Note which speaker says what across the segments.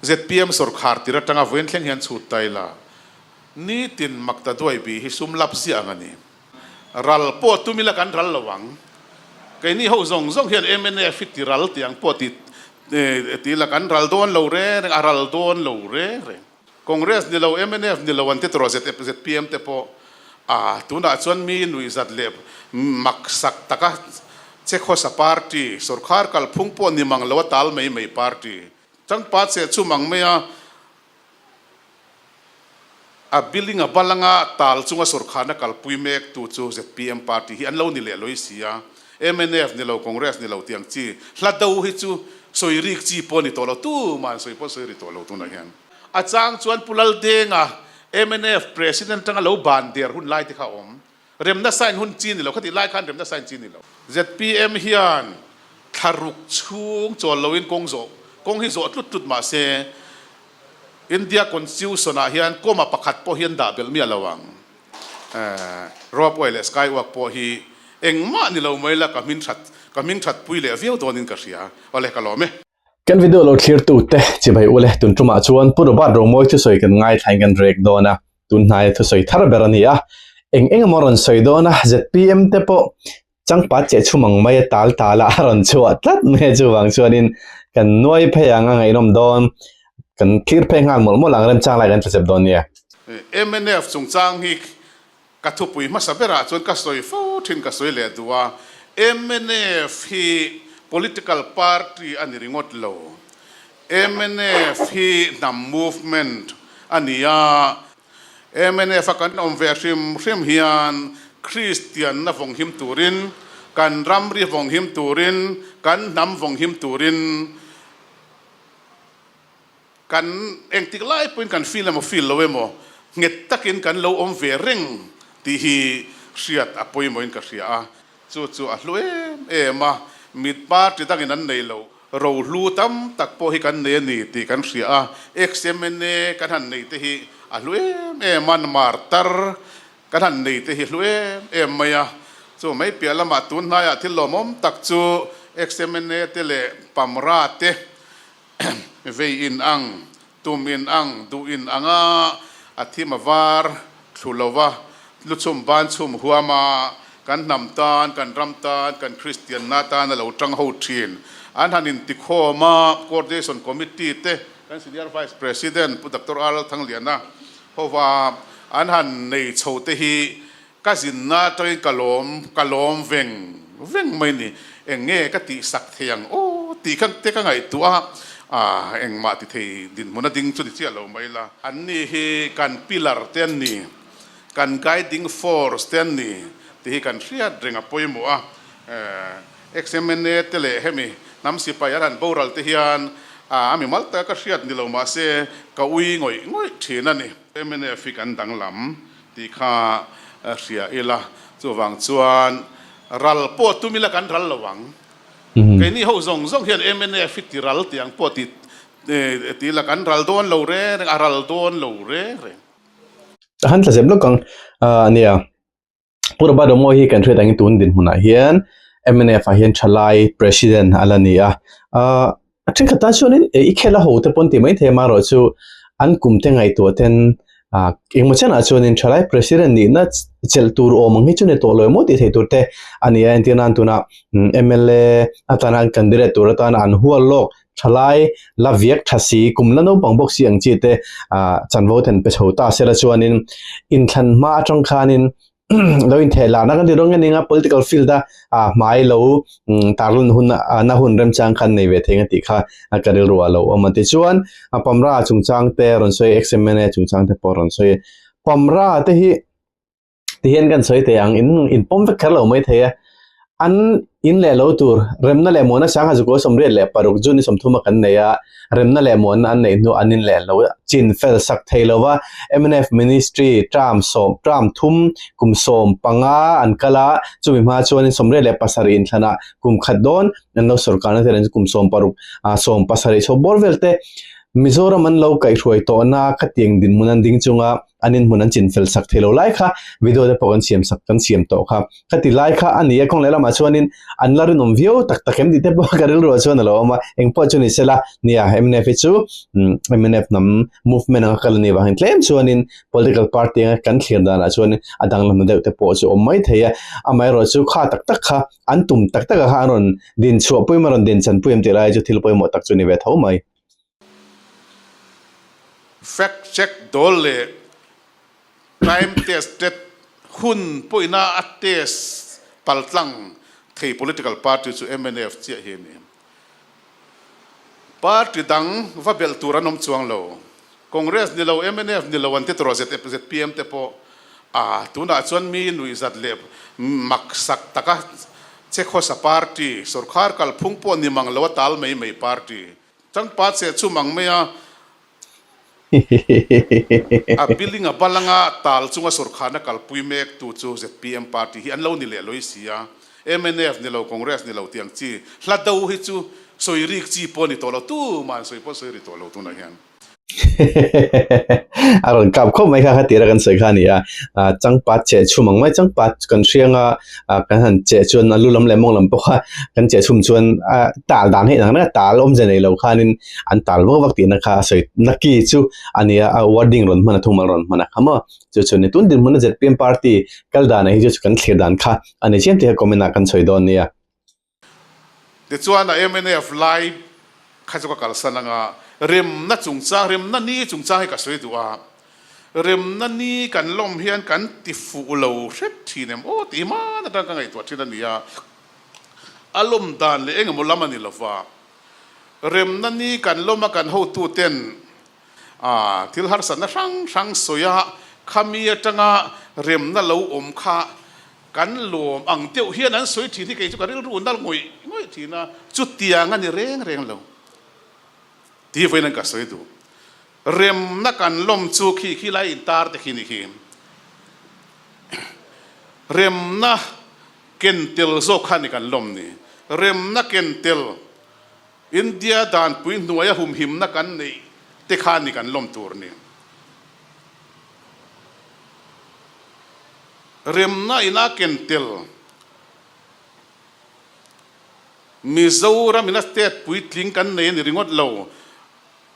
Speaker 1: Zpm sawrkhar tir atanga Vawinthleng hian chhut ta ila, nitin Makta Duaibi hi sum lap ziah ang a ni. Ral pawh tum ila kan ral lo ang. Keini ho zawng zawng hian mnf hi tiral tih ang pawh ti ti ila kan ral dawn lo reng reng, a ral dawn lo reng reng. Congress ni lo, mnf ni lo an ti tur a, zpm te pawh a, tunah chuan mi nuihzat leh maksak taka che khawsa party, sawrkhar kalphung pawh ni mang loa tal mai mai party, Tangpa che chu mang mai a, a building a bal anga tal chunga sawrkhatna kalpui mek tu chu zpm party hi an lo ni leh lawih si a, mnf ni lo Congress ni lo tiang chi hla do hi chu sawi rik chi pawh a ni tawh lo, tuma'n sawi pawh sawi ri tawh lo tunah hian. A chang chuan Pu Laldenga mnf president atanga lo ban der hun lai te kha a awm. Rem nasa in hun chin ni lo, khati lai khan rem nasa in chin ni lo. Zpm hian thlaruk chhung chawl lo in kawng zawh, kawng hi zawh tlut tlut mah se India Constitution ah hian comma pakhat pawh hian dah belh miah lo ang. Eeh Rob uai leh Sky uak pawh hi engmah ni lo mai la ka hmin that ka hming thatpui leh viau dawn in ka hria. Awle ka lawm e. Kan video lo
Speaker 2: thlirtu te chibai u le, tun tumah chuan Pu Robert Romawi thusawi kan ngaithla-in kan rek dawn a, tun hnaia thusawi thar ber a ni a, eng eng emaw rawn sawi dawn a, zpm te pawh changpat che chhu mang mai a tal tal a, a rawn chhuah tlat mai a, chuvang chuanin kan nuai phei ang a ngaihnawm dawn, kan thlirphei nghal mawlh mawlh ang remchang lai kan tlasep dawn nia. MNF
Speaker 1: chungchang hi Ka thupui hmasa berah chuan ka sawi fo thin ka sawi leh duh a, mnf hi political party a ni ringawt lo, mnf hi hnam movement a ni a, mnf a kan awm ve hrim hrim hian kristianna vawng him turin, kan ramri vawng him turin, kan hnam vawng him turin, Kan engtik lai pawhin kan feel emaw feel lo emaw nghet takin kan lo awm ve reng tih hi hriat a pawimawhin ka hria a, chu chu a hlu em em a, mit party dangin an nei loh ro hlu tam tak pawh hi kan nei a ni tih kan hria a, ex MNA ka hlan nei te hi a hlu em em a, martar ka hlan nei te hi a hlu em em mai a, chu mai piah lamah tun hnaiah thil lawmawm tak chu ex MNA te leh pamra te vei in ang, tum in ang, duh in anga a thim a var thlu lo va, lu chhum ban chhum huam a kan hnam tan, kan ram tan, kan Kristianna tan a lo tang ho thin. An han in ti khawm a, Coordination Committee te, kan Senior Vice President Pu Doctor Aral Thangliana hova an han nei chho te hi, Ka zinna atangin ka lawm, ka lawm veng veng mai ni, eng nge ka tih sak thei ang aw tih khan te ka ngaihtuah a, aah engmah ti thei dinhmun a ding chu ni chiah lo mai la. Anni hi kan pillar te an ni, kan guiding force te an ni tih hi kan hriat reng a pawimawh a, aah XMNA te leh hemi hnam sipai arhan boral te hian aah a mi mal taka ka hriat ni lo mah se ka ui ngawih ngawih thin a ni. XMNF hi kan danglam Tih kha a hria ila, chuvang chuan ral pawh tum ila kan ral lo ang. Keini ho zawng zawng hian MNF hi ti ral tih ang pawh ti ti ila kan ral dawn lo reng reng, a ral dawn lo reng reng.
Speaker 2: A han thlazep lawk ang a nia. Pu Robadawngawii hi kan hriat angin tun dinhmunah hian MNF-ah hian thalai President a la ni a. A thenkhat tan chuan in i khela ho te pawh ti mai thei amarawh chu an kum te ngaihtuah ten engmaw chianah chuan in thalai president nihna chelh tur awm ang hi chu ni tawh lo emaw tih theih tur te a ni a entir nan tunah mla atan an candidate tur atan an hual lawk thalai la viak tha si kum la naupang bawk si ang chi te chanvo ten pe chho ta sela chuan in in thlan hma atang khan in lo in theh la na kan ti rong nge ninga political field a a hmai lo mm, tarlun hun a na hun rem chang khan nei ve thei nga ti kha a ka ril ruah lo om ti chuan a pamra chung chang te ron soi xmna chung chang te pawh ron soi pamra te hi ti hian kan soi thei ang in in pawm vek kher lo mai thei a An in leh lo tur remna leh muana Sangha Zukawi Sawmriat leh paruk June-i sawmthuma kan nei a, remna leh muanna an neih hnu an in leh lo chin fel sak thei lo va, MNF Ministry term sawm term thum kum sawm panga an kal a, chumi hma chuanin sawmriat leh pasarih in thlana kum khat dawn an lo sawr karna te nen kum sawm paruk sawm pasarih chho bawr vel te Mizoram an lo kaihhruai tawhna khatiang dinhmun an ding chunga an in hmun an chin fel sak thei lo lai kha video te pawh kan siam sak kan siam tawh kha ka ti lai kha a nia kawng leh lamah chuan in an la rinawm viau tak tak em tih te pawh ka rilru ah chuan a lo awm a eng pawh chu ni se la nia mnf hi chu mnf hnam movement anga kal ani vangin tlem chuan in political party anga kan thlir dan ah chuan in a dang la hnu deuh te pawh chu awm mai thei a amah erawh chu kha tak tak kha an tum tak tak a kha an rawn din chhuah pawh em a rawn din chan pawh em tih lai chu thil pawimawh tak chu ni ve tho mai
Speaker 1: Fact check dawl leh time tested hun pawihna a test kal tlang thei political party chu mnf chiah hi a ni. Party dang va belh tur an awm chuang lo. Congress ni lo, mnf ni lo an ti tur a zpm te pawh aa tunah chuan mi nuihzat leh maksak taka che khawsa party, sorkar kalphung pawh ni mang lo a tal mai mai party, Tangpa che chum ang mai a. A building a bal anga tal chunga sawrkhan a kalpui mek tu chu zpm party hi an lo ni leh lawih si a, mnf ni lo congress ni lo tiang chi hla do hi chu sawi rik chi pawh a ni tawh lo, tumah an sawi pawh sawi ri tawh lo tunah hian. Hehehehehehe
Speaker 2: a rawn kap khawp mai kha khatira kan sawi kha a ni a ah changpat cheh chhum ang mai changpat kan hriang a ah kan han cheh chuan a lu lam leh a mawng lam pawh kha kan cheh chhum chuan ah tal dan hi inang reng a tal awmze nei lo khanin an tal vak vak tihna kha a sawi naki chu a ni a a wording rawn hman a thung bal a rawn hman a ka maw chu chu ni tun dinhmun a zet pianparty kal danah hi chu chu kan thlir dan kha a ni chian tih kha comment ah kan sawi dawn nia.
Speaker 1: Tichuan a mnf lai kha chu ka kalsan anga remna chungchang remna ni chungchang hi ka sawi duh a, remna ni kan lawm hian kan tifuh lo hret thin em aw tih hi hman atang ka ngaihtuah thin a nia, a lawm dan leh engemaw lam a ni lova, remna ni kan lawm a kan hotuten Aaa thil harsatna hrang hrang sawi a, khami atanga remna lo awm kha kan lawm ang deuh hian an sawi thin hi kei chu ka rilru nal ngawih ngawih thin a, chutiang a ni reng reng lo tih vawiin an ka sawi duh. Remna kan lawm chu khi khi lai intar te khi ni khi remna ken tel zawk khan i kan lawm ni, remna ken tel India danpui hnuaia humhimna kan neih te khan ni kan lawm tur ni. Remna ina ken tel Mizoram ina state puitling kan nei a ni ringawt lo.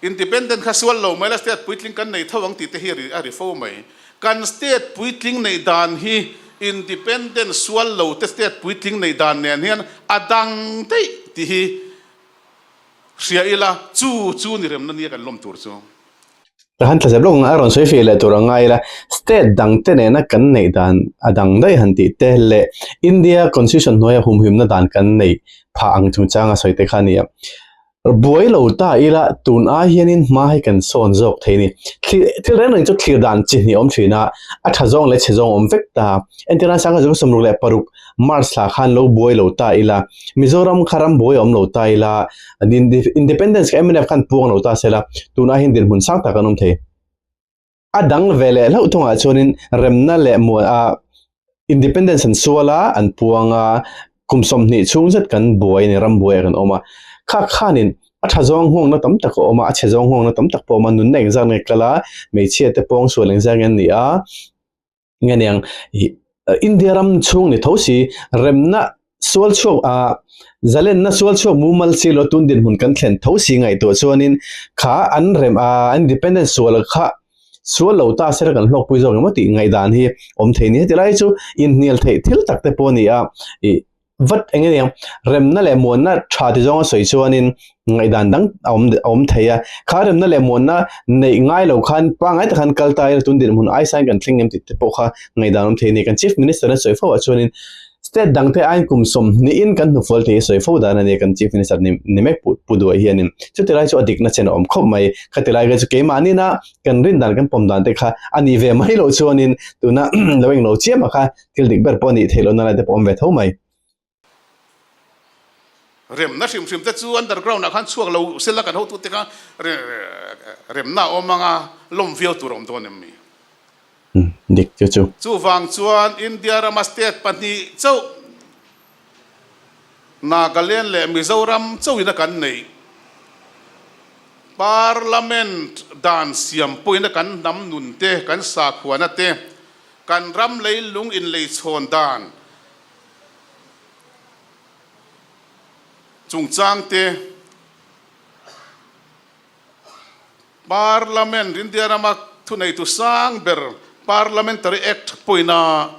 Speaker 1: Independent kha sual lo mai la state puitling kan nei tho ang tih te hi a ri fo mai. Kan state puitling neih dan hi independent sual lo te state puitling neih dan nen hian a dang daih tih hi hria ila chu chu ni remna nia kan lawm tur chu. Ka han
Speaker 2: thlazep lawk nana rawn sawi feh leh tur a ngai ila state dang te nena kan neih dan a dang daih han tih te leh India constitution hnuaia humhimna dan kan neih phah ang chungchanga sawi te kha nia. Buai lo ta ila tun ai hianin hma hi kan sawn zawk thei ni. Thlir, thil reng reng chu thlir dan chi hnih awm thin a, a tha zawng leh chhe zawng awm vek ta. Engtin a Sangha Zawng sawmruk leh paruk March thla khan lo buai lo ta ila, Mizoram kha ram buai a awm lo ta ila, Independence kha MNF khan puang lo ta sela, tun ai hian dirhmun sang tak kan awm thei. A dang ve leh hlauh thung ah chuanin remna leh muan a independence an sual a, an puang a, kum sawmhnih chhung zet kan buai a ni, ram buai ah kan awm a. Kha khanin a tha zawng nghawngna tam tak a awm a, a chhe zawng nghawngna tam tak pawh a awm a, nunna engzakna i kal a, hmeichhia te pawng sual engzak in an ni a. nge niang India ram chhung ni tho si remna sual chhuak a zalenna sual chhuak mumal si lo tun dinhmun kan thlen tho si ngaih tawh chuanin kha an rem a an independence sual kha sual lo ta sir kan hlawk pui zawk emaw tih ngaih dan hi awm thei nia tilai chu inhnial theih thil tak te pawh a ni a ih-- Vat eng eng remna leh muanna tha ti zawnga sawi chuanin ngaihdan dang a awm a awm thei a, khang remna leh muanna neih ngai lo khan pangngai tak khan kal taia tun dirhmun aisa in kan thleng em tih te pawh kha ngaihdan awm thei a ni. Kan Chief Minister in sawi fo ah chuanin State dangte aiin kum sawm niin kan hnu fual thei hi sawi fo dan a ni a kan Chief Minister ni ni mek pu pu duai hianin. Chutilai chu a dikna chen a awm khawp mai. Khatilai vel chu keimahnihna kan rin dan kan pawm dan te kha a nih ve mai loh chuanin tuna lo englo chiam ah kha thil dik ber pawh a nih theih lohna lai te pawh awm ve tho mai.
Speaker 1: Remna hrim hrim te chu underground ah khan chhuak lo sela kan hotu te kha remna awm anga lawm viau tur a awm dawn em ni?
Speaker 2: Dik chu chu. Chuvang chuan
Speaker 1: India rama state pahnih chauh Nagaland leh Mizoram chauhina kan neih Parliament dan siam pawhina kan hnam nun te, kan sakhuana te, kan ram leilung inleichhawn dan chungchang te, Parliament, India rama thuneitu sang ber Parliamentary Act pawina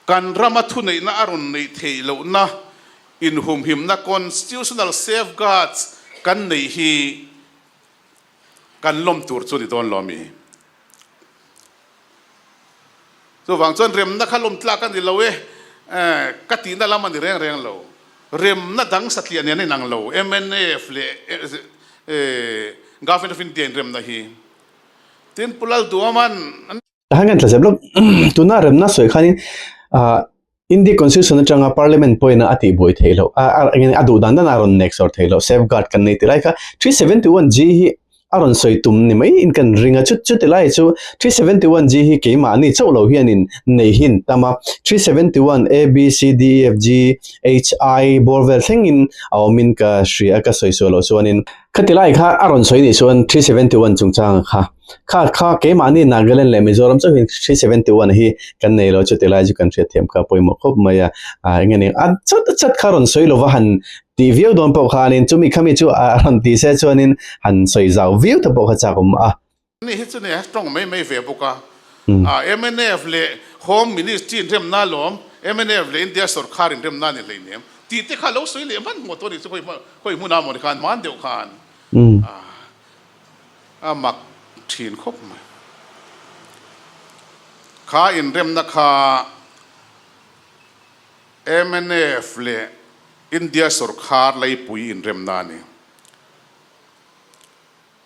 Speaker 1: kan rama thuneihna a rawn neih theih lohna inhumhimna, constitutional safeguards, kan neih hi kan lawm tur chu ni dawn lo a mi. Chuvang chuan remna kha lawmtlak a ni lo e, ka tihna lam a ni reng reng lo. Remna dang satliah nen a inang lo, MNF leh Government of India in remna hi. Tin pu Lalduaman. Kha hian ka inthlazep
Speaker 2: lawk. Tuna remna sawi khanin India Constitution atanga Parliament pawina a tihbuai theih loh, a duh dan dana a rawn nek zawr theih loh, safeguard kan nei ti lai kha. Three seventy one G hi a rawn sawi tum ni maiin kan ring a, chu chutiang lai chu Three seventy one G hi keimahni chauh lo hianin nei hi an tam a, Three seventy one A, B, C, D, E, F, G, H, I bawr vel thlengin a awmin ka hria, ka sawi sual loh chuanin. Khati lai kha a rawn sawi nih chuan Three seventy one chungchanga kha Kha, kha, keimahni Nagaland leh Mizoram chauhin three seventy one hi kan nei lo chu ti lai chu kan hria thiam kha pawimawh khawp mai a, a eng emaw a chhat a chhat kha rawn sawi lo va han tih viau dawn pawh khanin chu mi khami chu a rawn ti se chuanin han sawi zau viau te pawh kha chak awm a. Ni hi chu
Speaker 1: nia strong mai mai ve bawk a, a mnf leh Home Ministry inremna alawm, mnf leh India sorkar inremna ani hleinem tih te kha lo sawi leh hman hman tawh ani chu khawi hmuna maw ni khan hman deuh khan a. A mak thin khawp mai. Kha inremna kha MNF leh India sorkar laipui inremna a ni.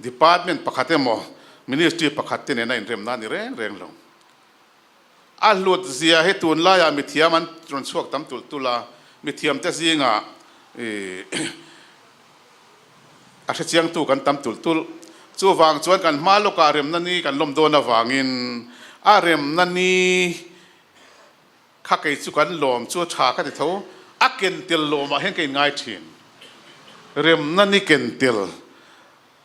Speaker 1: Department pakhat emaw Ministry pakhat te nena inremna a ni reng reng lo. A hlut zia hi tunlaiah mithiam an rawn chhuak tam tulh tulh a, mithiamte zingah a hrechiangtu kan tam tulh tulh. Chuvang chuan kan hma lawkah remna ni kan lawm dawn avangin a remna ni kha kei chu kan lawm chu tha ka ti tho. A ken tel lawmah hian ka inngai thin. Remna ni ken tel.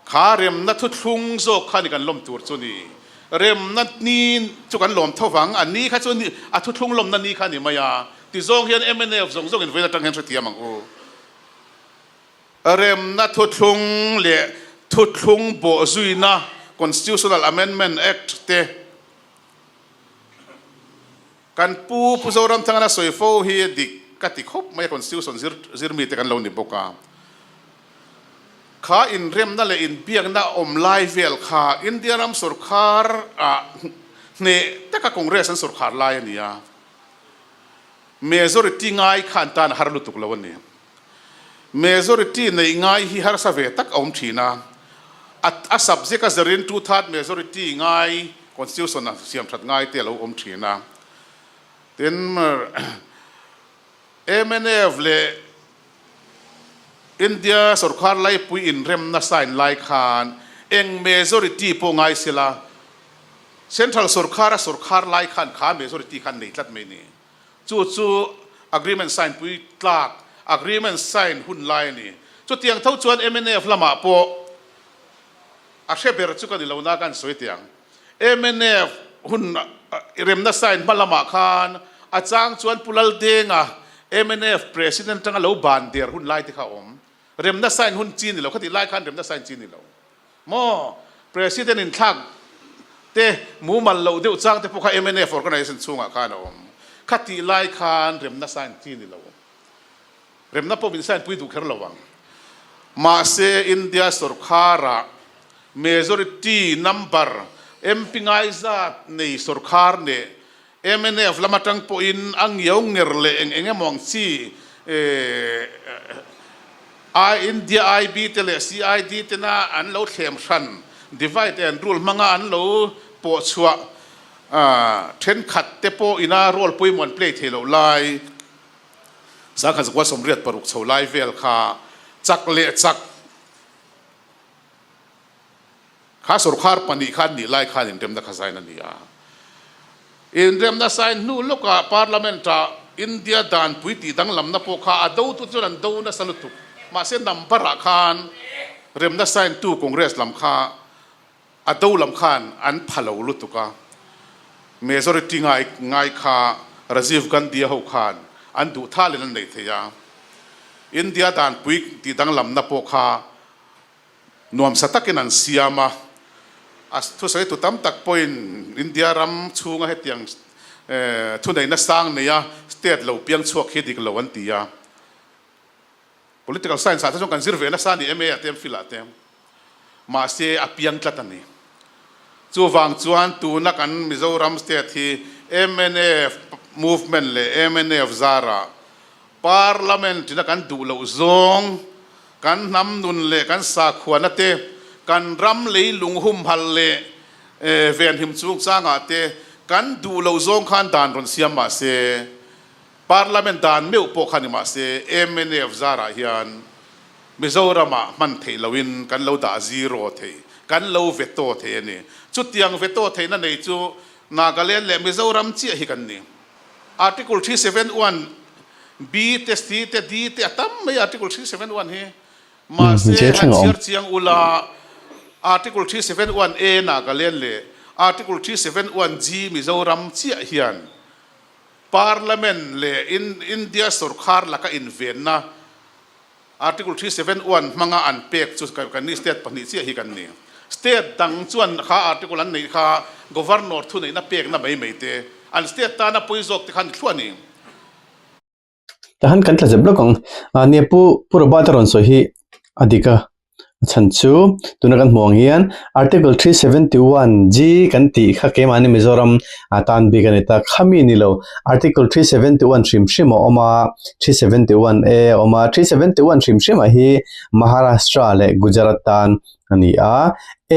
Speaker 1: Kha remna thuthlung zawk kha ni kan lawm tur chu ni. Remna ni chu kan lawm tho vang, a ni kha chu ni, a thuthlung lawmna ni kha a ni mai a, tizawng hian MNF zawng zawngin vawin atang hian hrethiam ang u. Remna thuthlung leh thuthlung bawhzuina, Constitutional Amendment Act, te. Kan pu Pu Zoramthanga la sawi fo hi a dik ka ti khawp mai a, Constitution zir zir mi te kan lo ni bawk a, kha inremna leh inbiakna a awm lai vel kha India ram sawrkhar a hneh taka Congress an sawrkhar lai a ni a, Majority ngai khan tan a har lutuk lo a ni. Majority neih ngai hi harsa ve tak a awm thin a, a subject a zer in two third majority ngai constitution a siam that ngai te a lo awm thin a. Tin MNF leh India sorkar laipui inremna sign lai khan eng majority pawh ngai sela, central sorkar a sorkar lai khan kha majority khan nei tlat mai ni? Chu chu agreement sign pui tlak agreement sign hun lai a ni. Chutiang tho chuan mnf lamah pawh a hre ber chu ka ni lo na ka han sawi thei ang. Mnf hun remna sign hma lamah khan a chang chuan Pu Laldenga mnf president atanga lo ban der hun lai te kha a awm. Remna sign hun chi a ni lo, khati lai khan remna sign chi a ni lo. Maw President inthlak te mumal loh deuh chang te pawh kha MNF organisation chhungah khan a awm. Khatih lai khan remna sign chi ni lo. Remna pawh min sign pui duh kher lo ang. Mahse India sorkarah majority number MP ngaizat nei sorkar neh MNF lam atang pawhin a ngio nger leh eng eng emaw ang chi ai India IB te leh CID tena an lo thlem hran, divide and rule, hmanga an lo pawh chhuah thenkhat te pawh in a role pawimawh an play thei loh lai. Sangha Zakua Sawmriat paruk chho lai vel kha chak leh chak. Kha sorkar pahnih kha an nih lai khan inremna kha zain a ni a. Inremna sign hnu lawkah Parliament ah India danpui tih danglamna pawh kha a do tu te chuan an do nasa lutuk. Mahse number ah khan remna sign tu Congress lam kha a do lam khan an pha lo lutuk a. Majority ngai ngai kha Rajiv Gandhi-a ho khan an duh tha leh an nei thei a. India danpui tih danglamna pawh kha. nuamsa takin an siam a, a thusawi tu tam tak pawhin India ram chhunga hetiang thuneihna sang neia state lo piang chhuak hi dik lo an ti a. Political science ah te chuan kan zir ve nasa a ni MA ah te MPhil ah te, mahse a piang tlat a ni. Chuvang chuan tuna kan Mizoram state hi MNF movement leh MNF zarah parliament ina kan duh loh zawng, Kan hnam nun leh kan sakhuana te, kan ram lei lunghum hal leh ven him chung changah te kan duh lo zawng khan dan rawn siam mah se, Parliament dan meuh pawh kha ni mah se, mnf zarah hian Mizoramah hman theih loin kan lo dah zero thei, kan lo veto thei a ni. Chutiang veto theihna nei chu Nagaland leh Mizoram chiah hi kan ni. Article three seven one B te C te D te a tam mai a Article three seven one hi. Mahse han chhiar chiang ula Article three seven one A Nagaland leh Article three seven one G Mizoram chiah hian Parliament leh India sorkar laka invenna Article three seven one hmanga an pek chu kan ni state pahnih chiah hi kan ni. State dang chuan kha article an neih kha governor thuneihna pekna mai mai te, an state tan a pawi zawk te khan ni thluah a ni. Tah han kan tla zep lawk ang.
Speaker 2: Nia pu, pu Robert-a rawn sawi hi a dik a, a chhan chu tuna kan hmuh ang hian article three seventy one g kan tih kha keimahni mizoram a tan bik a ni ta khami a ni lo article three seventy one hrim hrim a awm a three seventy one a a awm a three seventy one hrim hrim ah hi maharashtra leh gujarat tan a ni a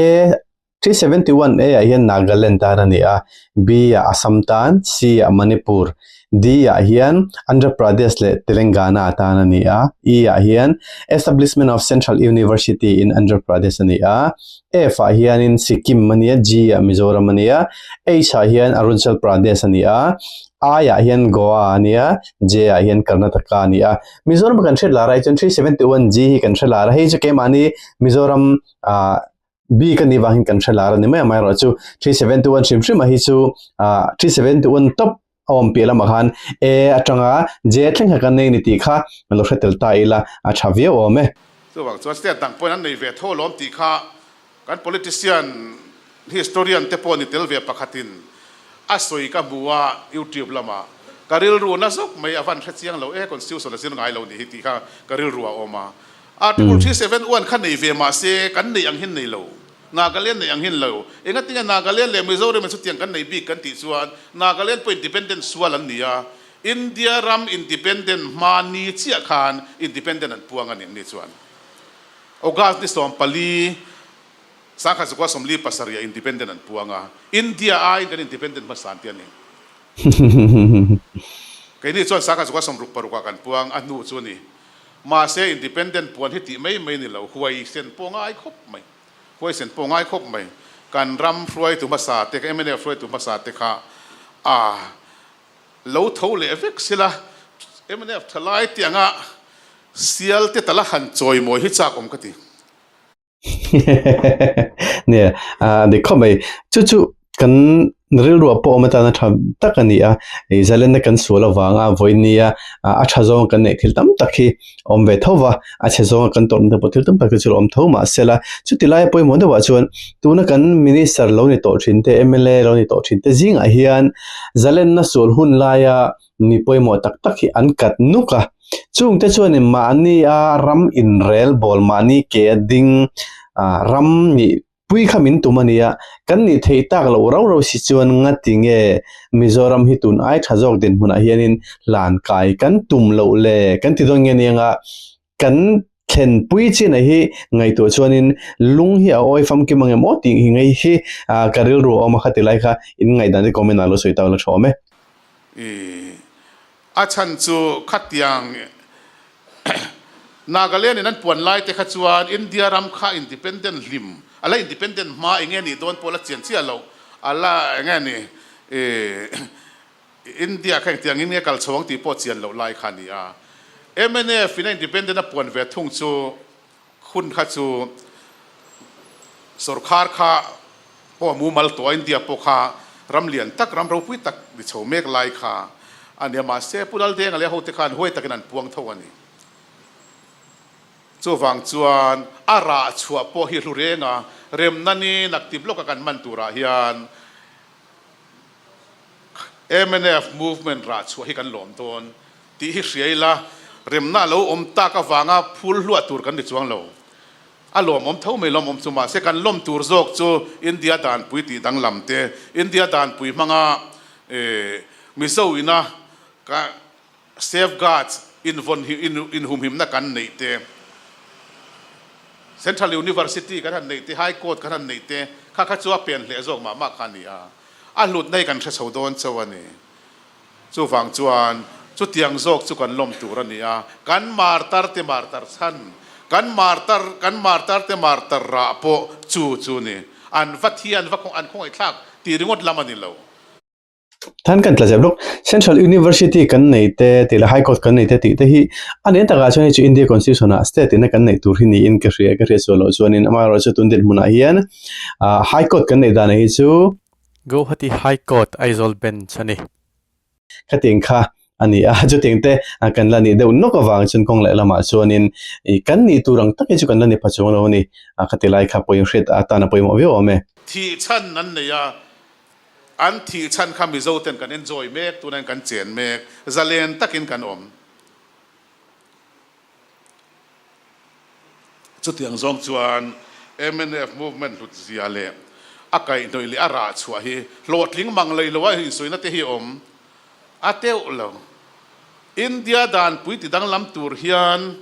Speaker 2: a-- Three seventy one A ah hian Nagaland tan a ni a, B ah Assam tan, C ah Manipur, D ah hian Andhra Pradesh leh Telengana tan a ni a, E ah hian Establishment of Central University in Andhra Pradesh a ni a, F ah hianin Sikkim a ni a, G ah Mizoram a ni a, H ah hian Arunachal Pradesh a ni a, I ah hian Goa a ni a, J ah hian Karnataka a ni a. Mizoram a kan hriat lar a, hei chuan three seventy one G hi kan hre lar a, hei chu keimahni Mizoram ah bik a nih vang in kan hre lar a ni mai a mai erawh chu three seven two one hrim hrim a hi chu ah three seven two one tawp a awm piah lamah khan e atanga j thleng kha kan nei a ni tih kha lo hre tel ta ila a tha viau awm e.
Speaker 1: Chuvang chuan state dang pawhin an nei ve tho lawm tih kha kan politician historian te pawh ni tel ve pakhatin a sawi ka hmu a youtube lamah ka rilru na zawk mai a van hre chiang lo e constitution a zir ngai lo nih hi tih kha ka rilru a awm a. Article three seven one kha nei ve mah se kan neih ang hin nei lo, Nagaland neih ang hin lo. Engatinge Nagaland leh Mizoram in chutiang kan nei bik kan tih chuan Nagaland pawh independent sual an ni a, India ram independent hma ni chiah khan independent an puang a nih mi chuan August ni sawm pali sangkhat zukua sawmli pasarih ah independent an puang a, India aiin kan independent hmasa an ti a ni. Keini chuan sangkhat zukua sawmruk paruk ah kan puang a hnu chu a ni. Mahse, independent puan hi tih mai mai ni lo, huaisen pawh ngai khawp mai, huaisen pawh ngai khawp mai. Kan ram hruaitu hmasa te, kan mnf hruaitu hmasa te kha a lo tho leh vek sila, mnf thalai tianga sial te ta la han chawi mawi hi chakawm ka ti.
Speaker 2: Nia, ah ni khawp mai. Chu chu kan rilruah pawh awm atana tha tak a ni a. Ih Zalena kan sual avanga vawinia a tha zawnga kan neih thil tam tak hi a awm ve tho va, a chhe zawnga kan tawrhna te pawh thil tam tak te chu a awm tho mah se la, chuti laia pawimawh deuhah chuan tuna kan Minister lo ni tawh thinte, mla lo ni tawh thinte zingah hian Zalena sual hun laia mi pawimawh tak tak hi an kat nuk a chung te chuanin mahni a ram inrel bawl mahni ke a ding ah ram nih pui kha min tum a ni a kan nih theih tak loh rau rau si chuan ngati nge mizoram hi tun ai tha zawk dinhmun ah hianin hlan kai kan tum loh le kan ti dawn nge niang a. Kan thlen pui chianah hi ngaihtuah chuanin lung hi a awi famkim ange maw tih hi ngei hi ah ka rilru a awm a kha ti lai kha in
Speaker 1: ngaihdan te comment ah lo sawi ta a la tha awm e. Ih, a chhan chu khatiang Nagaland-in an puan lai te kha chuan India ram kha independent hlim a la independent hma enge nih dawn pawh a la chian chiah loh a la enge ni ih India kha engtiang in nge kal chho ang tih pawh chian loh lai kha a ni a. MNF ina independent a puan ve thung chu hun kha chu sorkar kha pawh a mumal tawh a, India pawh kha ram lian tak, ram ropui tak ni chho mek lai kha a ni a. Mahse Pu Laldenga leh a hote khan huai takin an puang tho a ni. Chuvang chuan a rah chhuah pawh hi hlurenga remna ni naktip lawka kan hman turah hian, Mnf movement rah chhuah hi kan lawm dawn tih hi hria ila, remna lo awm tak avanga phul hluah tur kan ni chuang lo. A lawmawm tho mai lawmawm chu mahse kan lawm tur zawk chu India danpui tih danglam te, India danpui hmanga Mizo ina ka. Safeguards invawn inhumhimna kan neih te, Central University kan han neih te, High Court kan han neih te kha kha chu a pen hleh zawk mah mah kha a ni a, a hlutna hi kan hre chho dawn chauh a ni. Chuvang chuan chutiang zawk chu kan lawm tur a ni a, kan martar te martar chhan, kan martar kan martar te martar rah pawh chu chu ni,
Speaker 2: an va thi an va khawngaih thlak tih ringawt lam a ni lo. Than kan tla zep lawk, Central University kan nei te tih leh High Court kan nei te tih te hi a nen takah chuan hei chu India Constitution ah state ina kan neih tur hi niin ka hria ka hriatsuah loh chuanin amaherawhchu a tundilh hmunah hian High Court kan neih danah hi chu Guwahati
Speaker 3: High Court Aizawl Bench a ni. Khatiang kha a ni a, chutîng te kan la
Speaker 2: nih deuh nawk avâng chuan kawng leh lamah chuanin ih kan nih tûr ang takin chu kan la ni pha chûng a lo a ni. A ka ti lai kha pawimawh hriat a tân a
Speaker 1: pawimawh viau awm e. Thih chhan an nei a, an thih chhan kha Mizo ten kan enjoy mêk tûnain kan chên mêk, zalen takin kan awm. Chutiang zawng chuan mnf movement hlutzia leh a kaihhnawih leh a rah chhuah hi hlawhtling mang lei loa insawiina te hi awm a teuh lo. India dan puiti danglam tur hian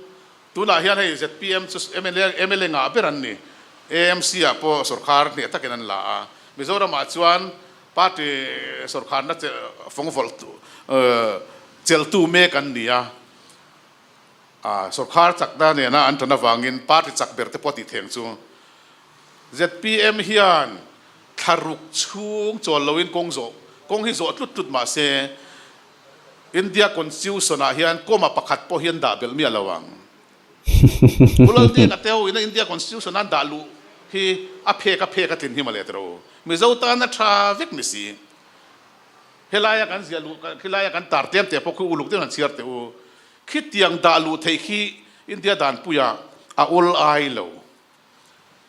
Speaker 1: tunah hian hei zpm chu mla ngah ber an ni, AMC-ah pawh sorkar hneh takin an la a, Mizoramah chuan party sorkarna fawngvawlh cheltu mek an ni a. Sorkar chak na nena an tan avangin party chak ber te pawh a tih theng chu zpm hian thla ruk chhung chawl loin kawng zawh kawng hi zawh tlut tlut mahse India constitution ah hian comma pakhat pawh hian dah belh miah lo ang. Bulal te ka teo ina India constitution a dah luh hi a phek a phek a tlin hi male tero Mizo tana tha vek ni si. Helaia kan ziah luh, khelaia kan tar tem teh pawh khi uluk deuhin han chhiar teh u. Khitiang dah luh theih khi India dan puia a ul ai lo.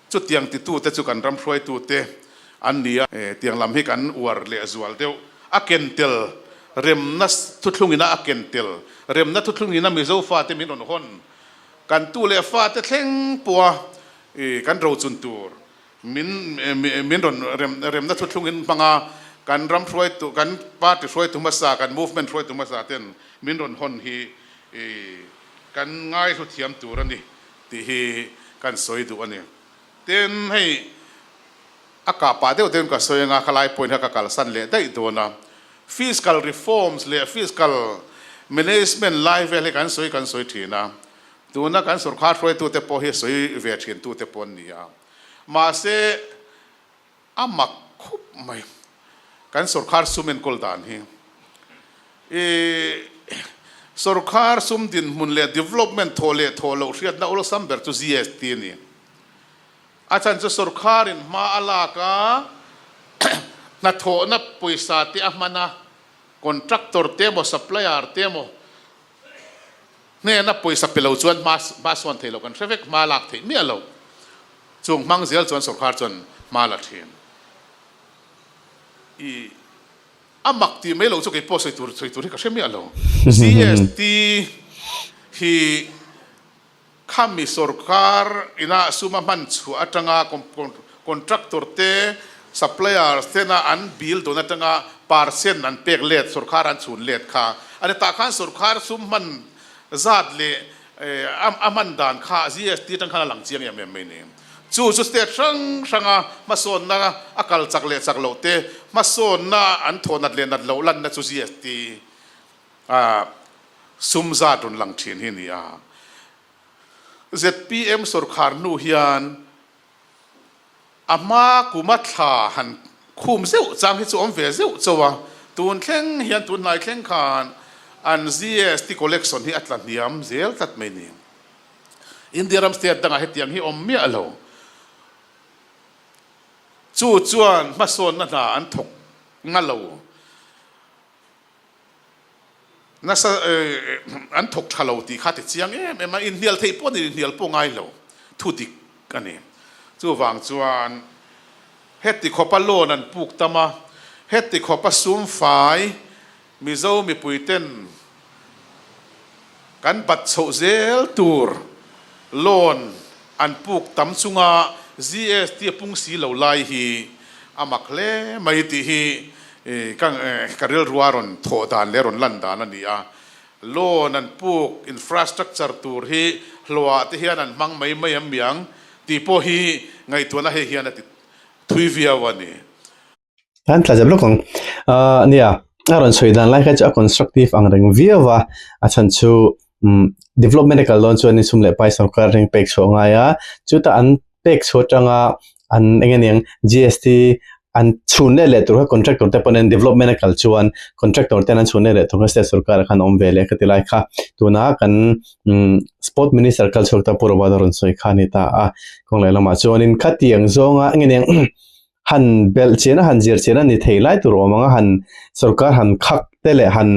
Speaker 1: Chutiang titu te chu kan ram hruaitu te an ni a. Tiang lam hi kan uar leh zual deuh. A ken tel remna thuthlungina a ken tel remna thuthlungina Mizo fate min rawn hawn. Kan tu leh fate thleng pawha kan rochun tur Min min rawn remna thuthlungin hmanga kan ram hruaitu, kan party hruaitu hmasa, kan movement hruaitu hmasa ten min rawn hawn hi kan ngaihlu thiam tur a ni tih hi kan sawi duh a ni. Tin, hei a kah pah deuh deuhin ka sawi anga a khalai point kha ka kalsan leh daih dawn a, fiscal reforms leh fiscal management lai vel hi kan sawi kan sawi thin a, tuna kan sorkar hruaitute pawh hi sawi ve thintu te pawh an ni a. Mahse, a mak khup mai kan sorkar sum enkawl dan hi. I sorkar sum dinhmun leh development thaw leh thaw loh hriatna awlsam ber chu GST a ni. A chhan chu sorkarin hma a lak a, hnathawhna pawisa te a hman a, contractor te emaw, supplier te emaw, hnena pawisa pe lo chuan hma hma suan thei lo kan hre vek hma lak thei miah lo chung hmang zial chuan sorkar chuan hma la thin i a mak ti mai lo chu kei pawh sawi tur sawi tur hi ka hre miah lo GST hi Khami sawrkar inah suma hman chhuah atanga contractor te, suppliers tena an bil dawn atanga percent an pek let, sawrkar an chhun let kha a ni. Tah khan sawrkar sum hman zat leh a hman dan kha GST atang khan a lang chiang em em mai ni. Chu chu state hrang hranga hmasawnna a kal chak leh chak loh te, hmasawnna an thaw nat leh nat loh lanna chu GST a sum zat rawn lang thin hi ni a. Zpm sawrkhar hnu hian a hma kuma thla han khum zeuh chang hi chu awm ve zeuh chauh a, tun thleng hian tun hnai thleng khan an GST collection hi a tla hniam zel tlat mai ni. India ram state dangah hetiang hi awm miah lo. Chu chuan hmasawnna hna an thawk nga lo. Nasa an thawk tha lo tih kha ti chiang em em a, inhnial theih pawh nen inhnial pawh ngai lo thu dik a ni. Chuvang chuan heti khawpa lawn an puk tam a, heti khawpa sumfai Mizo mipuiten, Kan bat chhoh zel tur loan an puk tam chunga GST a pung si lo lai hi a mak hle mai tih hi ka rilrua rawn thawh dan leh rawn lan dan a ni a. Loan an puk infrastructure tur hi hluah te hian an hmang mai mai amiang tih pawh hi ngaihtuahna
Speaker 2: hei hian a ti thui viau a ni. An tla zep lawk ang ah nia a rawn sawi dan lai kha chu a constructive ang reng viau a a chhan chu umm development a kal dawn chuan insum leh pai sawrkar a reng pek chhuah a ngai a chuta an pek chhuah atanga an eng nge niang GST an chhun leh leh tur kha contractor te pawh nen development a kal chuan contractor ten an chhun leh leh thung kha state sawrkar ah khan a awm ve leh ka ti lai kha tuna kan umm sport minister kal chhuak ta pura a rawn sawi kha a ni ta a kawng leh lamah chuan in khati ang zawnga eng nge niang. han belh chian a han zir chian a ni thei lai tur awm ang a han sorkar han khak te leh han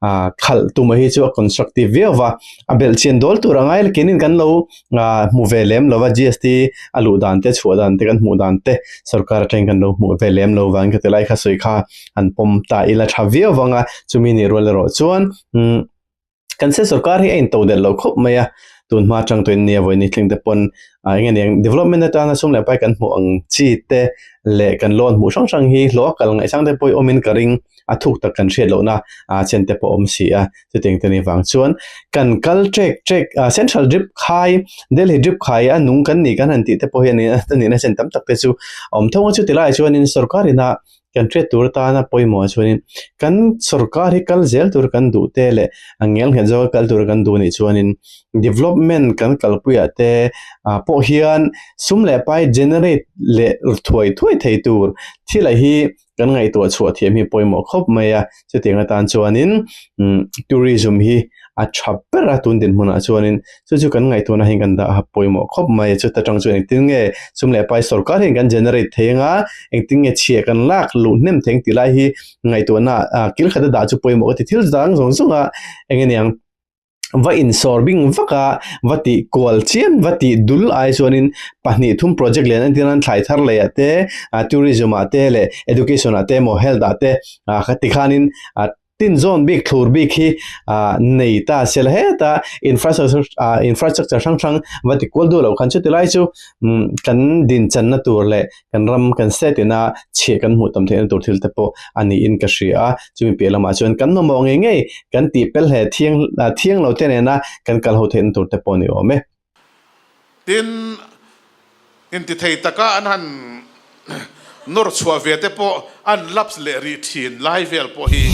Speaker 2: ah khalh tum hi chu a constructive viau va a belh chian dawl tur angai la kenin kan lo ah hmu ve lem lo va GST a luh dan te a chhuah dan te kan hmuh dan te sorkar atang hian kan lo hmuh ve lem lo va an khati lai kha sawi kha han pawm ta ila tha viau vang a chumi nih rual erawh chuan umm. kan se sawrkar hi a into der lo khawp mai a, tun hma chang tawhin nia vawi ni thleng te pawn eng nge ni ang development atana sum leh pai kan hmuh ang chi te leh kan lawn hmuh hrang hrang hi hlawh a kal ngaih chang te pawh hi awm in ka ring a thuk tak kan hriat lohna ah chen te pawh awm si a, chutiang te nih vang chuan kan kal chek chek ah central drip khai delhi drip khai a nung kan ni kan han tih te pawh hian a nihna chen tam tak te chu a awm thung a, chuti laiah chuan sawrkar ina Kan hriat tur atana pawimawh chuanin kan sorkar hi kal zel tur kan duh te leh a ngel nghet zawk a kal tur kan duh nih chuanin development kan kalpuiah te pawh hian sum leh pai generate leh thuai thuai thei tur thil a hi kan ngaihtuah chhuah thiam hi pawimawh khawp mai a. chutiang atan chuanin imm tourism hi a tha ber a tun din hmunah chuanin chu chu kan ngaihtuahna hi kan daha pawimawh khawp mai chuta tang chuan engtin nge sum leh pai sawrkar hian kan generate thei anga engtin nge chhiah kan lak luh hnem thei ang tih lai hi ngaihtuahna ah kil khat a dah chu pawimawh ka ti thil zang zawng zawng a eng nge niang. va insawr bing vak a, va tih kual chian, va tih dul ai chuanin pahnih thum project len an ti nan, thlai thar lei ah te, tourism ah te leh education ah te emaw health ah te kha ti khanin tin zawn bik thlur bik hi nei ta se la het a, infrastructure hrang hrang va ti kual duah loh khan chu tilai chu kan din channa tur leh Kan ram kan set in a chheh kan hmuh tam theihna tur thil te pawh a ni in ka hria a, chumi piah lamah chuan kan mamawh ngei ngei kan tih pel hle thiang thiang lo te nena kan kal ho theihna tur te pawh ni awm e. Tin,
Speaker 1: intithei taka an han nawr chhuah ve te pawh an laps leh rih thin lai vel pawh hi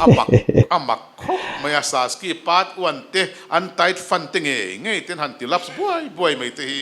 Speaker 1: a mak a mak khawp mai a, Saski pat uan te an tight fan te ngei ngei ten han ti laps buai buai mai te hi.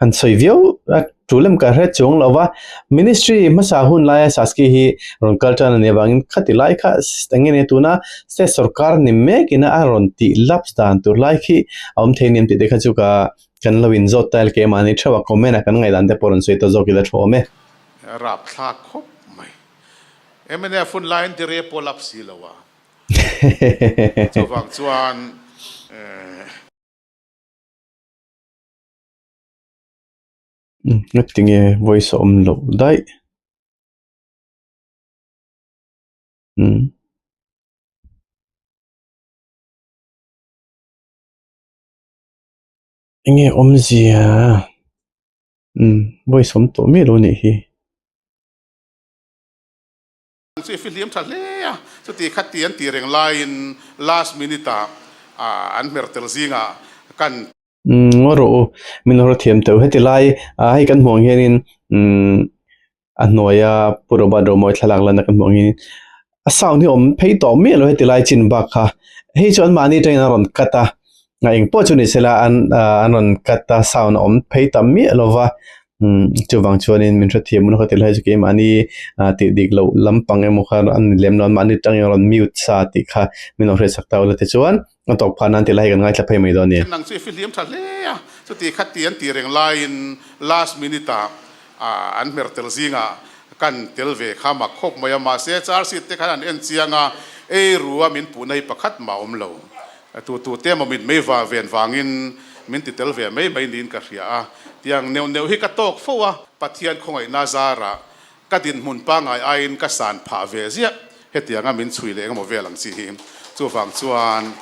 Speaker 2: han sawi viau a, chu lem ka hre chuang lova Ministry hmasa hun laia Saskia hi rawn kal tan ania vangin khati lai kha enge nia tuna State sawrkar ni mek ina a rawn ti laps dan tur lai khi a awm thei aniang tih te kha chu ka kan lo in zawt ta leh keh mahni theuh a comment a kan ngaih dan te pawh rawn sawi ta zawk
Speaker 1: ila thu awm e. A rap thlak khawp mai. Mnf hun laiin ti re pawh laps si lo a, chuvang chuan.
Speaker 2: Hlek ti nge voice a awm loh daih umm. Enge awmzia umm voice awm tawh miah lo anih hi.
Speaker 1: Chu i fihliam tha hle a, chuti kha ti an tih reng laiin last minute ah ah an hmer tel zingah kan. Umm rawh u, min hawrh thiam teuh heti lai, ah hei kan
Speaker 2: hmuh ang hianin umm a hnuaia Pu Robert Romawi thlalak lana kan hmuh ang hianin a sound hi awm phei tawh miah lo heti lai chin bak kha, hei chu anmahni atangin an rawn cut a, Ngai eng pawh chu ni sela an an rawn cut a sound a awm phei ta miah lo va chuvang chuanin min hrethiam hun ka ti lai chu kei mahni tih dik loh lampang emaw kha an ni lem lo an mahni tangin rawn mute sa tih kha min lo hriatsak ta ula tichuan a tawk phahna an ti lai hi kan ngaithla phei mai dawn nia. Nang chu i fihliam tha hle
Speaker 1: a, chuti kha ti an tih reng laiin last minute ah an hmer tel zinga kan tel ve kha mak khawp mai a, mahse charseat te khan an en chiang a, ei rua min puhna hi pakhat mah a awm lo. A tu tu te maw mit mai va ven vangin min ti tel ve mai mai niin ka hria a, tiang neuh neuh hi ka tawk fo a, Pathian khawngaihna zarah ka dinhmun pangai aiin ka san phah ve ziah hetiang a, min chhui leh engemaw vel ang chi hi. Chuvang chuan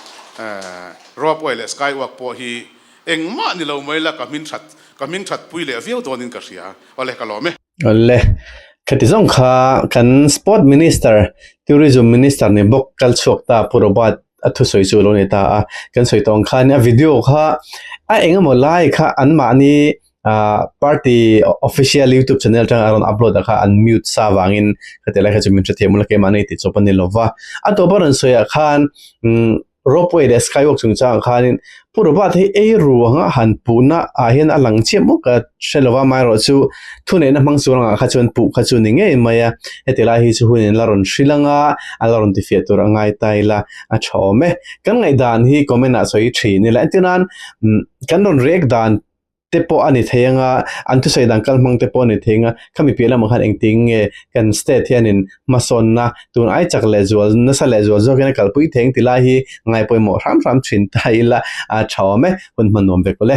Speaker 1: Rob uai leh Sky uak pawh hi engmah ni lo mai la ka hming that ka hming that pui leh viau dawnin ka hria, awle ka lawm e. Awle,
Speaker 2: khati zawng kha kan Sport Minister, Tourism Minister nih bawk kal chhuak ta Pu Robert a thusawi chu a lo nei ta a. Kan sawi tawh ang khan a video kha a eng emaw lai kha an mahni party official YouTube channel atanga a rawn upload a kha an mute sa vangin khati lai kha chu min hre thei maw la keimah a nei tih chawp a ni lova. A tawpah a rawn sawiah khan umm. Ropeway leh Skywalk chungchangah khanin Pu Robert hi ei ruanga han puhna ah hian a lang chiah maw ka hre lo va, maherawh chu thuneihna hmang chung rangah kha chuan puh kha chu ni ngei mai a, heti lai hi chu hun in la rawn hrilh ang a, an la rawn tifiah tur a ngai ta ila a tha awm e. Kan ngaihdan hi comment ah sawi thin ila, entirnan kan rawn rek dan te pawh a ni thei ang a, an thusawi dang kal hmang te pawh a ni thei ang a, khami piah lamah khan engtiang nge kan state hianin hmasawnna tun ai chak leh zual nasa leh zual zawkin a kalpui thei ang tilai hi ngaipawimawh hram hram thin ta ila a tha awm e, hun hman nuam ve kawle.